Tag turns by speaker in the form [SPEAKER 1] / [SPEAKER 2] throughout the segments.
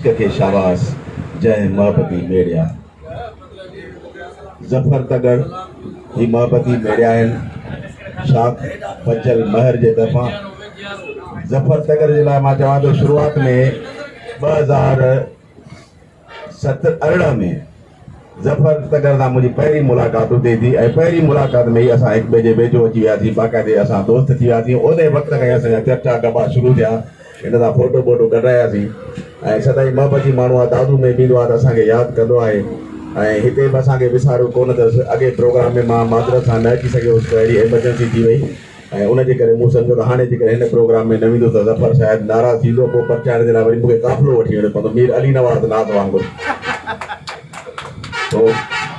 [SPEAKER 1] عشق کي شاباس جنهن محبتي ميڙيا. ظفر تڳڙ هي محبتي ميڙيا آهن شاخ بچل مهر جي طرفان ظفر تڳڙ جي لاء مان چوان ٿو شروعات ۾ ٻه هزار ست ارڙهن ۾ ظفر تگڙ سان منهنجي پهرين ملاقات اتي ٿي ۽ پهرين ملاقات ۾ ئي اسان هڪ ٻئي جي ويجهو اچي وياسين باقاعدي اسان دوست ٿي وياسين انهي وقت کان ئي اسان جا چرچا ڳڀا شروع ٿيا هن سان ڦوٽو ٻوٽو ڪڍراياسين ۽ سدائين محبت جي ماڻهو آهي دادو ۾ به ايندو آهي ته اسان کي ياد ڪندو آهي ۽ هتي به اسان کي وساريو ڪونه اٿس اڳئي پروگرام ۾ مان معذرت سان نه اچي سگهيو هوس ڪو اهڙي ايمرجنسي ٿي وئي ۽ ان جي ڪري مون سمجهيو ته هاڻي جيڪڏهن هن پروگرام ۾ نه ويندس ته ظفر شايد ناراض ٿيندو، پوء پرچائڻ جي لاء وري مون کي قافلو وٺي وڃڻو پوندو، مير علي نواز ناز وانگر. سو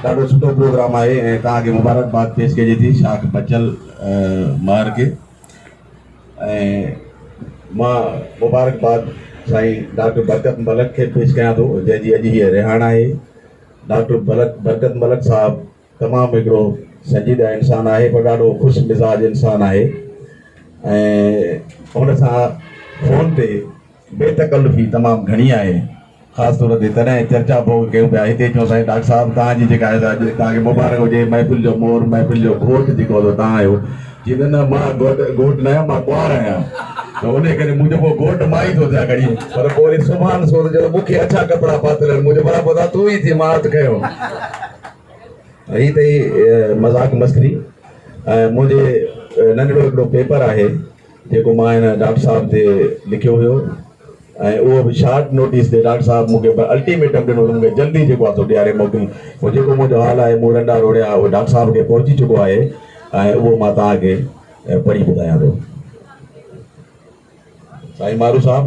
[SPEAKER 1] ڏاڍو سٺو پروگرام آهي ۽ توهان کي مبارڪباد پيش ڪجي ٿي شاخ بچل مهر کي ۽ مان مبارڪباد سائين ڊاڪٽر برڪت ملڪ کي پيش ڪيان ٿو جنهن جي اڄ هيء رهاڻ آهي ڊاڪٽر برڪت ملڪ صاحب تمام هڪڙو سنجيده انسان آهي پر ڏاڍو خوش مزاج انسان آهي ۽ هن سان فون تي بي تڪلفي تمام گهڻي آهي خاص طور تي تڏهن چرچا ڀوڳ ڪيون پيا هتي چون سائين ڊاڪٽر صاحب توهان جي جيڪا اڄ توهان کي مبارڪ هجي محفل جو مور محفل جو گهوٽ جيڪو هو توهان آهيو جي نه نه مان گهوٽ گهوٽ نه آهيان مان ڪنوار آهيان ته ان ڪري منهنجو پوء گهوٽ مان ئي ٿو ٿيان گهڙي پر پوء وري سبحان سوز جو مون کي اڇا ڪپڙا پاتل آهن منهنجو برابر تون ئي ٿي مان هٿ کنيو هي ته مذاق مسخري ۽ منهنجي ننڍڙو هڪڙو پيپر آهي جيڪو مان هن ڊاڪٽر صاحب تي لکيو هيو ۽ اهو به شارٽ نوٽيس تي ڊاڪٽر صاحب مون کي الٽيميٽم ڏنو مون کي جلدي جيڪو آهي سو ڏياري موڪل پوء جيڪو منهنجو حال آهي مون رنڊا روڙيا اهو ڊاڪٽر صاحب کي پهچي چڪو آهي ۽ اهو مان توهان کي پڙهي ٻڌايان ٿو سائين مارو صاحب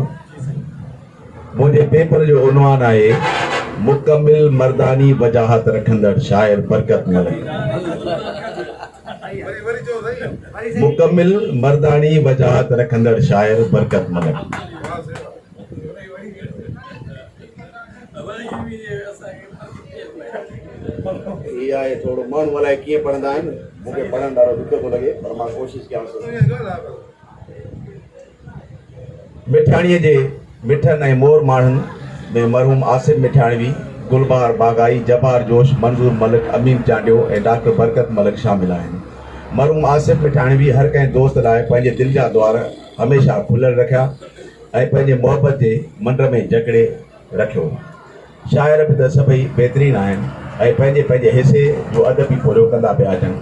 [SPEAKER 1] منهنجي پيپر جو عنوان آهي مڪمل مرداني وجاهت رکندڙ شاعر برڪت ملڪ مڪمل مرداني وجاهت رکندڙ شاعر برڪت ملڪ هي آهي ٿورو ماڻهو الائي ڪيئن پڙهندا آهن مون کي پڙهڻ ڏاڍو ڏکيو ٿو لڳي پر مان ڪوشش ڪيان ٿو مٺياڻيء جي مٺن ۽ مور ماڻهن ۾ مرحوم آصف مٺياڻوي، گلبهار باغائي، جبار جوش، منظور ملڪ، امين چانڊيو ۽ ڊاڪٽر برڪت ملڪ شامل آهن. مرحوم آصف مٺياڻوي هر ڪنهن دوست لاء پنهنجي دل جا دوار هميشه کليل رکيا ۽ پنهنجي محبت جي منڊ ۾ جڪڙي، رکيو. شاعر به ته سڀئي بهترين آهن ۽ پنهنجي پنهنجي حصي جو ادب به پورهيو ڪندا پيا اچن.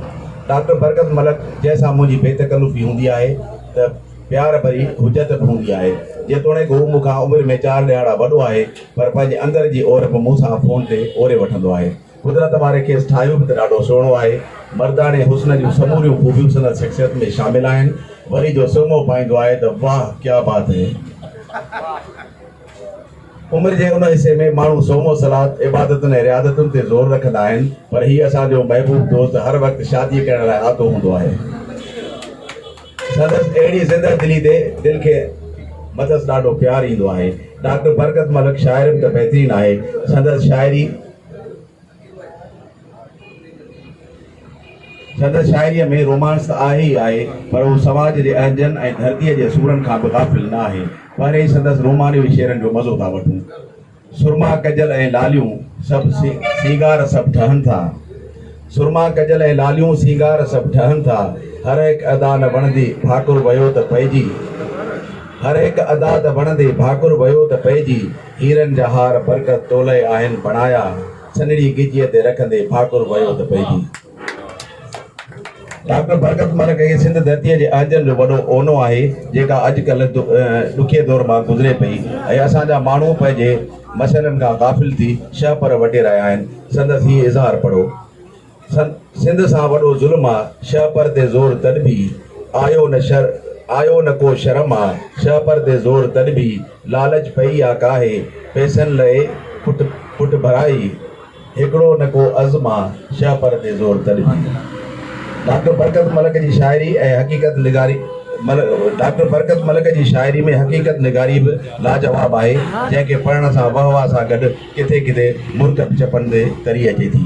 [SPEAKER 1] ڊاڪٽر برڪت ملڪ جنهن سان منهنجي بي تڪلفي هوندي آهي ته پيار ڀري حجت به هوندي آهي. جيتوڻيڪ هو مون کان عمر ۾ چار ڏهاڙا وڏو آهي پر پنهنجي اندر جي اور به مون سان فون تي اوري وٺندو آهي. قدرت واري کيس ٺاهيو به ته ڏاڍو سهڻو آهي. مرداڻي حسن جون سموريون خوبيون سندس شخصيت ۾ شامل آهن. وري جو سرمو پائيندو آهي ته واهه ڪيا بات هي. عمر جي ان حصي ۾ ماڻهو صوم و صلات، عبادتن ۽ رياضتن تي زور رکندا آهن، پر هي اسان جو محبوب دوست هر وقت شاديء ڪرڻ لاء آتو هوندو آهي. سندس اهڙي زنده دلي تي دل کي مٿس ڏاڍو پيار ايندو آهي. ڊاڪٽر برڪت ملڪ شاعرن ته بهترين آهي، سندس شاعري. سندس شاعريء ۾ رومانس ته آهي ئي آهي، پر هو سماج جي اهنجن ۽ ڌرتيء جي اصولن کان به غافل نه آهي. پهرين ئي سندس رومانوي شعرن جو مزو ٿا وٺون. سرما ڪجل ۽ لاليون سڀ سينگار سڀ ٺهن ٿا. سرما ڪجل ۽ لاليون سينگار سڀ ٺهن ٿا. هر هڪ ادا نه وڻندي ڀاڪر ويو ته پئجي. هر هڪ ادا ته وڻندي ڀاڪر ويو ته پئجي. هيرن جا هار برڪت تولئي آهن بڻايا. سنهڙي ڳجهيء تي رکندي ٺاڪر ويو ته پئجي. ڊاڪٽر برڪت مل ڪهي سنڌ ڌرتيء جي اهنجن جو وڏو اونو آهي، جيڪا اڄڪلهه ڏکئي دور مان گذري پئي ۽ اسان جا ماڻهو پنهنجي مسئلن کان غافل ٿي شهپر وٽي رهيا آهن. سندس هي اظهار پڙهو. سنڌ سان وڏو ظلم آ، شهپر تي زور تڏ ڀي، آيو نه شر آيو نه ڪو شرم آ، شهپر تي زور تڏ ڀي، لالچ پئي آ ڪاهي، پئسن لئي پٽ پٽ ڀرائي، هڪڙو نه ڪو عزم آ، شهپر تي زور تڏ ڀي. ڊاڪٽر برڪت ملڪ جي شاعري ۽ حقيقت نگاري مل ڊاڪٽر برڪت ملڪ جي شاعري ۾ حقيقت نگاري به لاجواب آهي، جنهن کي پڙهڻ سان وهه واه سان گڏ ڪٿي ڪٿي مرڪ به چپن تي تري اچي ٿي.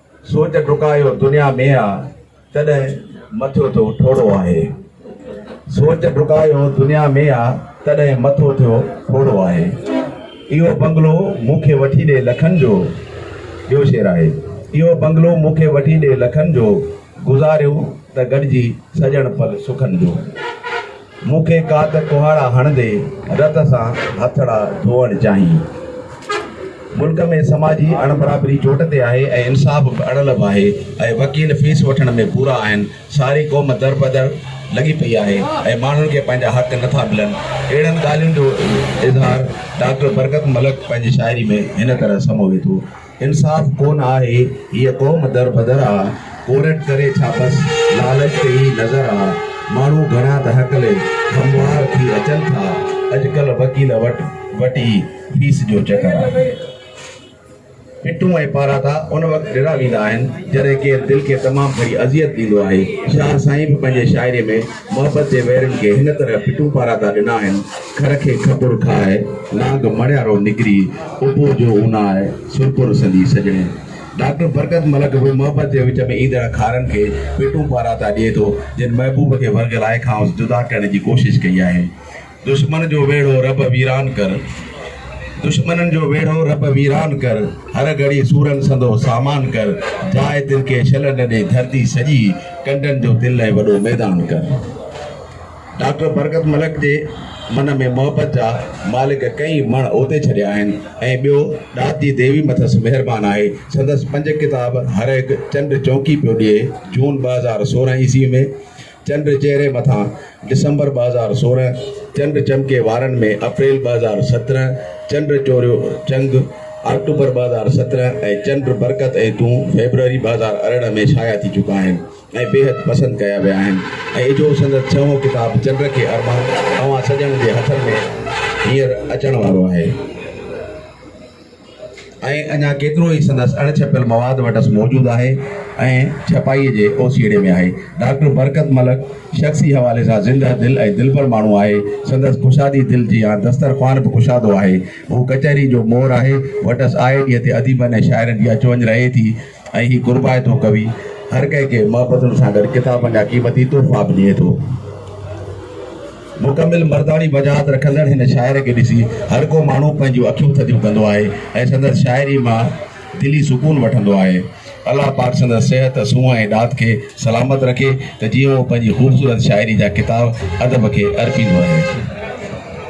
[SPEAKER 1] سوچ ڊڪايو دنيا ۾ آ تڏهن مٿيو ٿيو ٺوڙهو آهي سوچ ڊڪايو دنيا ۾ آ تڏهن مٿو ٿيو ٺوڙهو آهي اهو بنگلو مون کي وٺي ڏي لکن جو ٻيو شعر آهي اهو بنگلو مون کي وٺي ڏي لکن جو گذاريون ته گڏجي سڄڻ پل سکن جو مون کي ڪا ته ڪهاڙا هڻندي رت سان هٿڙا ڌوئڻ چاهين. ملڪ ۾ سماجي اڻبرابري چوٽ تي آهي ۽ انصاف به اڙلڀ آهي ۽ وڪيل فيس وٺڻ ۾ پورا آهن. ساري قوم دربدر لڳي پئي آهي ۽ ماڻهن کي پنهنجا حق نه ٿا ملن. اهڙن ڳالهين جو اظهار ڊاڪٽر برڪت ملڪ پنهنجي شاعري ۾ هن طرح سموي ٿو. انصاف ڪون آهي هيء قوم در بدر آ، ڪورٽ ڪري ڇا بس لالچ تي ئي نظر آ، ماڻهو گهڻا ته هڪلي هموار ٿي اچن ٿا، اڄڪلهه وڪيل وٽ وٽ ئي فيس جو چڪر آ. پٽون ۽ پاراتا ان وقت ڏنا ويندا آهن جڏهن ڪير دل کي تمام گهڻي اذيت ڏيندو آهي، شاهه سائين به پنهنجي شاعري ۾. محبت جي ويرين کي هن طرح پٽون پاراتا ڏنا آهن، کر کي کپر کائي، نانگ مڻيارو نڪري، ابو جو اوناء سرپر سندي سڄڻي. ڊاڪٽر برڪت ملڪ به محبت جي وچ ۾ ايندڙ کارن کي پٽون پاراتا ڏئي ٿو، جن محبوب کي ورگلائي کانئس جدا ڪرڻ جي ڪوشش ڪئي آهي. دشمن جو ويڙهو رب ويران ڪر دشمنن جو ويڙهو رب ويران ڪر هر گهڙي سورن سندو سامان ڪر جاء تن کي شل نه ڏي ڌرتي سڄي ڪنڊن جو تن لئي وڏو ميدان ڪر ڊاڪٽر برڪت ملڪ جي من ۾ محبت جا مالڪ ڪئي مڻ اوتي ڇڏيا آهن ۽ ٻيو ڏات جي ديوي مٿس مهربان آهي سندس پنج ڪتاب هر هڪ چنڊ چونڪي پيو ڏئي جون ٻه هزار سورهن عيسوي ۾ چنڊ چهري مٿان، ڊسمبر ٻه هزار سورهن، چنڊ چمڪي وارن ۾، اپريل ٻه هزار سترهن، چنڊ چوريو چنگ، آڪٽوبر ٻه هزار سترهن، ۽ چنڊ برڪت ۽ تون، فيبروري ٻه هزار ارڙهن ۾ شايع ٿي چڪا آهن ۽ بيحد پسند ڪيا ويا آهن ۽ اجهو سندس ڇهون ڪتاب چنڊ کي ارمان اوهان سڄڻن جي هٿن ۾ هينئر اچڻ وارو آهي. ۽ اڃا ڪيترو ئي سندس اڻ ڇپيل مواد وٽس موجود آهي ۽ ڇپائيء جي اوسيئڙي ۾ آهي. ڊاڪٽر برڪت ملڪ شخصي حوالي سان زندهه دل ۽ دلبر ماڻهو آهي. سندس ڪشادي دل جيان دستر خوان به ڪشادو آهي. هو ڪچهري جو مور آهي. وٽس آئي ڏينهن تي اديبن ۽ شاعرن جي اچ وڃ رهي ٿي. ۽ هي قربائتو ڪوي هر ڪنهن کي محبتن سان گڏ ڪتابن جا قيمتي تحفا به ڏئي ٿو. مڪمل مرداڻي وجاهت رکندڙ هن شاعر کي ڏسي هر ڪو ماڻهو پنهنجون اکيون ٿڌيون ڪندو آهي ۽ سندس شاعري مان دلي سڪون وٺندو آهي. الله پاڪ سندس صحت، سونهن ۽ ڏات کي سلامت رکي ته جيئن هو پنهنجي خوبصورت شاعري جا ڪتاب ادب کي ارپيندو رهي.